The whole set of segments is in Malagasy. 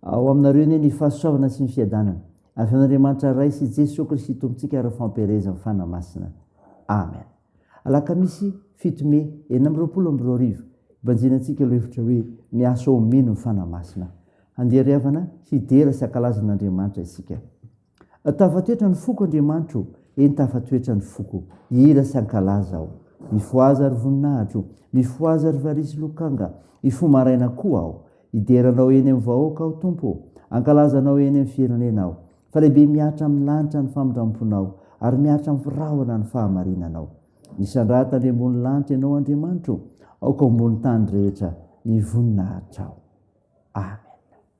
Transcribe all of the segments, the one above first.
Ao aminareo anie ny fahasoavana sy ny fiadanana avy amin'Andriamanitra Ray sy Jesoa Kristy Tompontsika ary Fampielezan'ny Fanahy Masina. Amen. Alakamisy fito Mey enina amby roapolo amby roa arivo, hibanjina antsika ilay hevitra hoe miasa ho mino ny Fanahy Masina. Handeha ry havana hidera sy hankalaza an'Andriamanitra isika. Tafatoetra ny foko Andriamanitro ô, eny tafatoetra ny foko, hira sy hankalaza aho. Mifohaza ry voninahitro, mifohaza ry valiha sy lokanga, hifoha maraina koa aho. Hidera Anao eny amin'ny vahoaka aho Tompo ô, hankalaza Anao eny amin'ny firenena aho. Fa lehibe mihatra amin'ny lanitra ny famindramponao, ary mihatra amin'ny rahona ny fahamarinanao. Misandrata any ambony lanitra Ianao Andriamanitro, aoka ho ambony tany rehetra ny voninahitrao. Amen.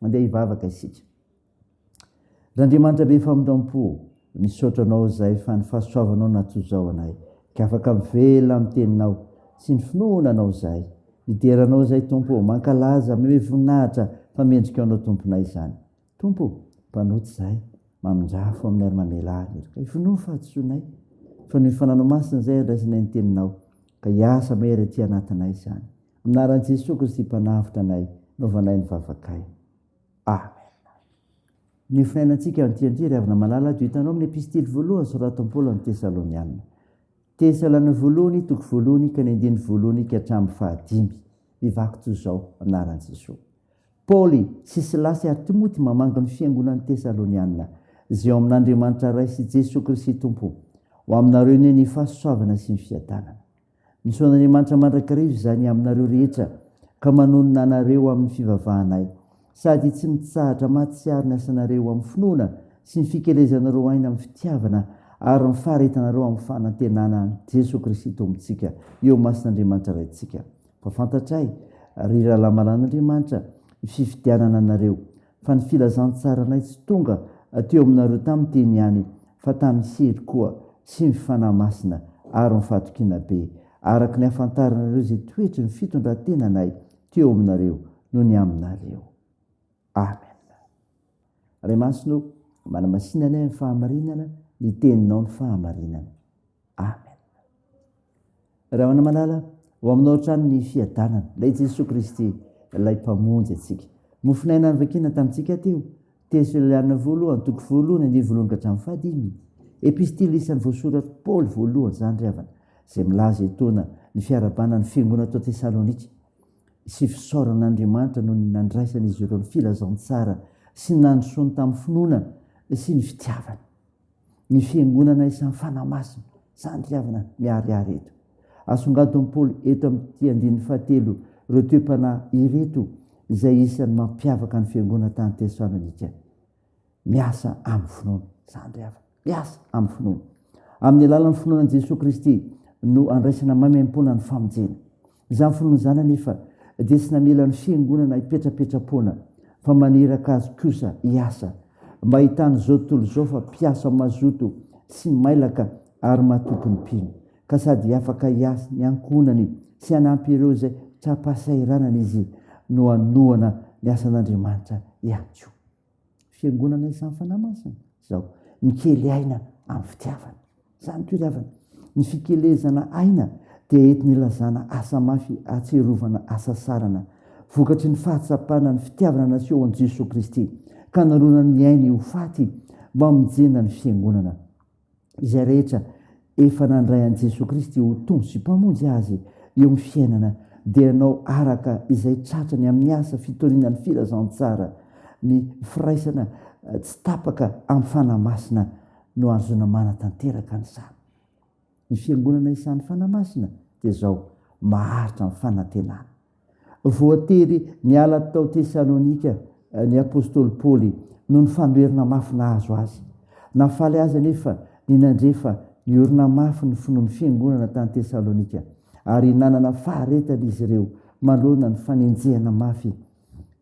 Mandeha hivavaka isika. R'Andriamanitra be famindrampo, misaotra Anao zay fa ny fahasoavanao natoa zao anay ka afaka mivela amin'ny teninao sy ny finoana Anao zay. Midera Anao zay Tompo ô, mankalaza, mihomehy voninahitra fa mendrika Anao Tomponay izany. Tompo ô, mpanota zay, mamindrafo amin'ny ary mamela ahy eto ka hivonoa ny fahadisoanay fa noho ny Fananao Masina zay andraisanay ny teninao ka hiasa mahery aty anatinay izany. Anaran'i Jesoa Kristy Mpanavotra anay, noavanay ny vavakay. Amen. Ny finainantsika antianty, ry havana malala, dia hitanao amin'ny epistily voalohany soratan'i Paoly amin'ny Tesalonianina. Tesalana voalohany, toko voalohany, ka ny andininy voalohany ka hatramin'ny fahadimy. Mivaky toy izao, Anaran'i Jesoa. Paoly, sy Silasy ary Timoty mamangy ny fiangonan'ny Tesalonianina, izay ao amin'Andriamanitra Ray sy Jesoa Kristy Tompo, ho aminareo anie ny fahasoavana sy ny fiadanana. Misaonan'Andriamanitra mandrakariva izany aminareo rehetra ka manonona anareo amin'ny fivavahanay, sady tsy mitsahatra mahatsiaro ny asanareo amin'ny finoana sy ny fikelezanareo aina amin'ny fitiavana ary ny faharetanareo amin'ny fanantenana an'i Jesoa Kristy Tompontsika eo imasin'Andriamanitra Raintsika. Fa fantatray, ry rahalahy malan'Andriamanitra, ny fifidianana anareo fa ny filazantsaranay tsy tonga teo aminareo tamin'ny teny ihany fa tamin'ny hery koa sy ny Fanahy Masina ary ny fahatokiana be, araka ny hahafantaranareo izay toetry ny fitondran-tenanay teo aminareo no ny aminareo. Amen. Ray Masina ô, manamasina anay amin'ny fahamarinana, ny Teninao ny fahamarinana. Amen. Rahona malala, ho aminao hatrany ny fiadanana. Ilay Jesoa Kristy, ilay mpamonjy antsika. Mofonaina nivakina tamintsika teo. Tesoliana volo, antoko volo, ny andiany voalohany ka hatramin'ny fahadimy. Epistily isan'ny voasoratr'i Paoly voalohany izany ry havana, izay milaza etoana ny fiarahabana ny fiangonana ato Tesalonika sy fisaorana an'Andriamanitra noho ny nandraisan'izy ireo ny filazantsara sy ny nandrosoany tamin'ny finoana sy ny fitiavana. ny fiangonana isan'ny fanahy masina santiavina miharihary eto. Asongadin'i Paoly eto amin'ity andininy fahatelo ireo toe-panahy ireto izay isan'ny mampiavaka ny fiangonana tany Tesalonika. Miasa amin'ny finoana, sandry hafa. Miasa amin'ny finoana. Amin'ny alalan'ny finoana an'i Jesoa Kristy no andraisana maimaimpoana ny famonjena. Izany finoana izany anefa dia tsy namela ny Fiangonana hipetrapetra-poana fa maniraka azy kosa hiasa, mba hitan'izao tontolo izao fa mpiasa mazoto sy mailaka ary matoky ny mpino, ka sady afaka hiasa ny ankohonany sy hanampy ireo izay tra-pahasahiranana izy no hanohana ny asan'Andriamanitra ihany koa. Fiangonana isan'ny Fanahy Masina izao. Mikely aina amin'ny fitiavana. Izany koa ry havana. Ny fikelezana aina dia entina ilazana asa mafy ahatsiarovana hasasarana. Vokatry ny fahatsapana ny fitiavana naseho an'i Jesoa Kristy ka naronany ny ainy ho faty mba hamonjena ny Fiangonana. izay rehetra efa nandray an'i Jesoa Kristy ho Tompo sy Mpamonjy azy eo amin'ny fiainana dia hanao araka izay tratrany amin'ny asa fitoriana ny filazantsara, ny firaisana tsy tapaka amin'ny Fanahy Masina no ahazoana manatanteraka an'izany. Ny Fiangonana isan'ny Fanahy Masina dia izao, maharitra amin'ny fanantenana. Voatery niala tao Tesalonika ny apostoly Paoly noho ny fanoherana mafy nahazo azy. Nahafaly azy anefa ny nandre fa niorina mafy ny finoan'ny fiangonana tany Tesalonika, ary nanana faharetana izy ireo manoloana ny fanenjehana mafy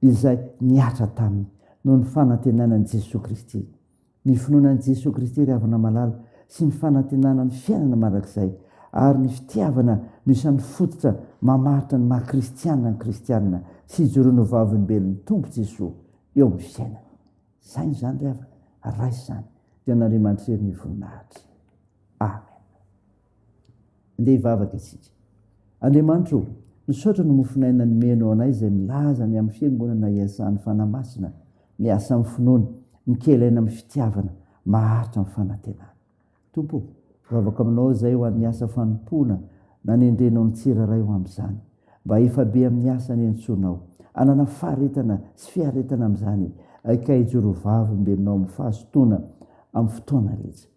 izay nihatra taminy noho ny fanantenana an'i Jesoa Kristy. ny finoana an'i Jesoa Kristy ry havana malala sy ny fanantenana ny fiainana mandrakizay ary ny fitiavana no isan'ny fototra mamaritra ny maha kristiana ny kristiana sy ijoroany ho vavolombelon'ny Tompo Jesoa eo amin'ny fiainana. Saino izany ry havana, raiso izany dia an'Andriamanitra irery ny voninahitra. Amen. Ndeha hivavaka isika. Andriamanitra o, misaotra ny mofon'aina nomenao anay izay milaza ny amin'ny fiangonana iasan'ny Fanahy Masina, miasa amin'ny finoana, mikely aina amin'ny fitiavana, maharitra amin'ny fanantenana. Tompo o, vavaka aminao izay ho an'ny asa fanompoana nanendrenao ny tsirairay ho amin'izany. Mba hifabe amin'ny asa nentsonao. Anana faharetana sy fiaretana amin'izany, aika hijoro vavimbenao amin'ny fahazotoana amin'ny fotoana rehetra.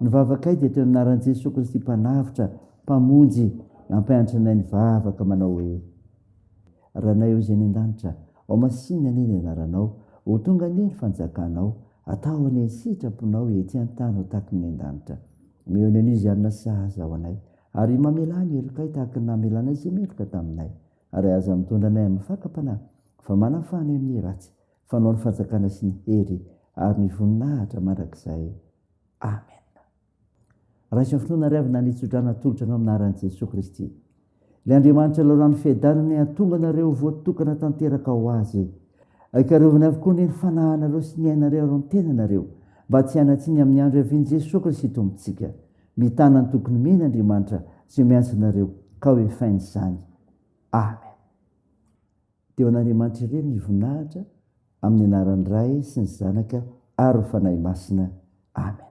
Ny vavakay dia toy ny anaran'i Jesoa Kristy Mpanavotra, Mpamonjy, nampianatra anay nivavaka manao hoe, Ranay Hoy Izay any An-danitra, ao masinina anie ny anaranao, ho tonga anie ny fanjakanao, atao anie ny sitraponao ety an-tany ho tahaky ny an-danitra. Meo ny anio izay hanana sahaza ho anay, ary mamelà ny helokay tahaky ny namelanay izay meloka taminay, ary aza mitondra anay amin'ny fakam-panahy, fa manafaha anay amin'ny ratsy, fanao ny fanjakana sy ny hery ary ny voninahitra mandrakizay. Amen. Raiso finoana ry avy nitsodrana atolotra anao amin'ny anaran'i Jesoa Kristy. Ilay Andriamanitra lalàn'ny fiadanana hiatonga anareo voatokana tanteraka ho Azy. Aikarovany avokoa anie ny fanahinareo sy ny ainareo ary ny tenanareo mba tsy hanatsiny amin'ny andro hiavian'i Jesoa Kristy Tompontsika. Mitana ny tokony mihena Andriamanitra izay miantso anareo ka hoefainy izany. Amen. Dia ho an'Andriamanitra irery ny voninahitra amin'ny anaran'ny Ray sy ny Zanaka ary ny Fanahy Masina. Amen.